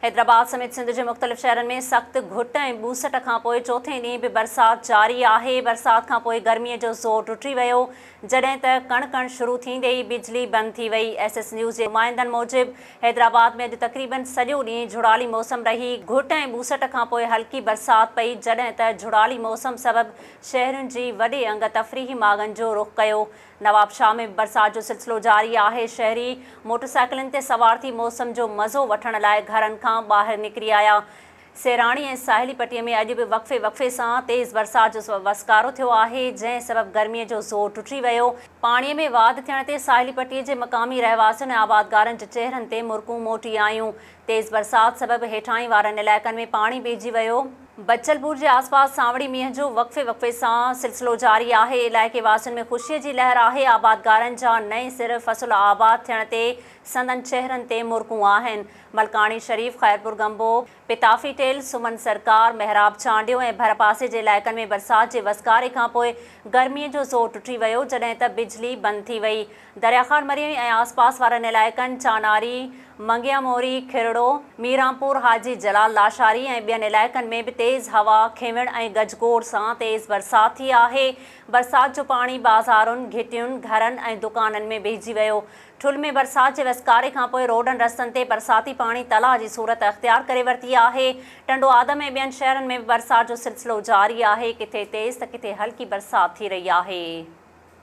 حيدرآباد سميت سنڌ جي مختلف شهرن ۾ سخت گهٽ ۽ ٻوسٽ کانپوء چوٿين ڏينهن به برسات جاري آهي، برسات کانپوء گرمي جو زور ٽٽي ويو، جڏهن ته ڪڻ ڪڻ شروع ٿيندي ئي بجلي بند ٿي وئي، ايس ايس نيوز جي نمائندن موجب حيدرآباد ۾ اڄ تقريبن سڄو ڏينهن جھڙالي موسم رهي، گهٽ ۽ ٻوسٽ کانپوء هلڪي برسات پئي، جڏهن ته جھڙالي موسم سبب شهرين جي وڏي انگ تفريحي ماڳن جو رخ ڪيو، نوابشاهه ۾ به برسات جو سلسلو جاري آهي، شهري موٽرسائيڪلن تي سوار ٿي موسم جو مزو وٺڻ لاء گهرن کان ٻاهر نڪري آيا، سيراڻي ۽ ساحلي پٽي ۾ اڄ به وقفي وقفي سان تيز برسات جو وسڪارو ٿيو آهي، جنهن سبب گرمي جو زور ٽٽي ويو، پاڻي ۾ واڌ ٿيڻ تي ساحلي پٽي جي مقامي رهواسين ۽ آبادگارن جي چهرن تي مرڪون موٽي آيون، تيز برسات سبب هيٺاهين وارن علائقن ۾ پاڻي ٻيهجي ويو. بچل پور جي آس پاس سانوڻي مينهن جو وقفي وقفي سان سلسلو جاري آهي، علائقي واسين ۾ خوشي جي لهر آهي، آبادگارن جا نئين سر فصل آباد ٿيڻ تي سندن چهرن تي مرڪون آهن، ملڪاڻي شريف، خيرپور گنبو، پتافي ٽيل، سمن سرڪار، محراب چانڊيو ۽ ڀرپاسي جي علائقن ۾ برسات جي وسڪاري کانپوء گرمي جو زور ٽٽي ويو، جڏهن ته بجلي بند ٿي وئي. دريا خان مريئي ۽ آس پاس وارن علائقن چاناري، منگيان موري، کهرڙو، ميرانپور، حاجي جلال لاشاري ۽ ٻين علائقن ۾ به تيز هوا، کنوڻ ۽ گجگوڙ سان تيز برسات ٿي آهي، برسات جو پاڻي بازارن، گهٽين، گهرن ۽ دڪانن ۾ بيهجي ويو، ٺل ۾ برسات جي وسڪاري کانپوء روڊن رستن تي برساتي پاڻي تلاء جي صورت اختيار ڪري ورتي آهي، ٽنڊوآدم ۽ ٻين شهرن ۾ به برسات جو سلسلو جاري آهي، ڪٿي تيز ته ڪٿي هلڪي برسات ٿي رهي آهي.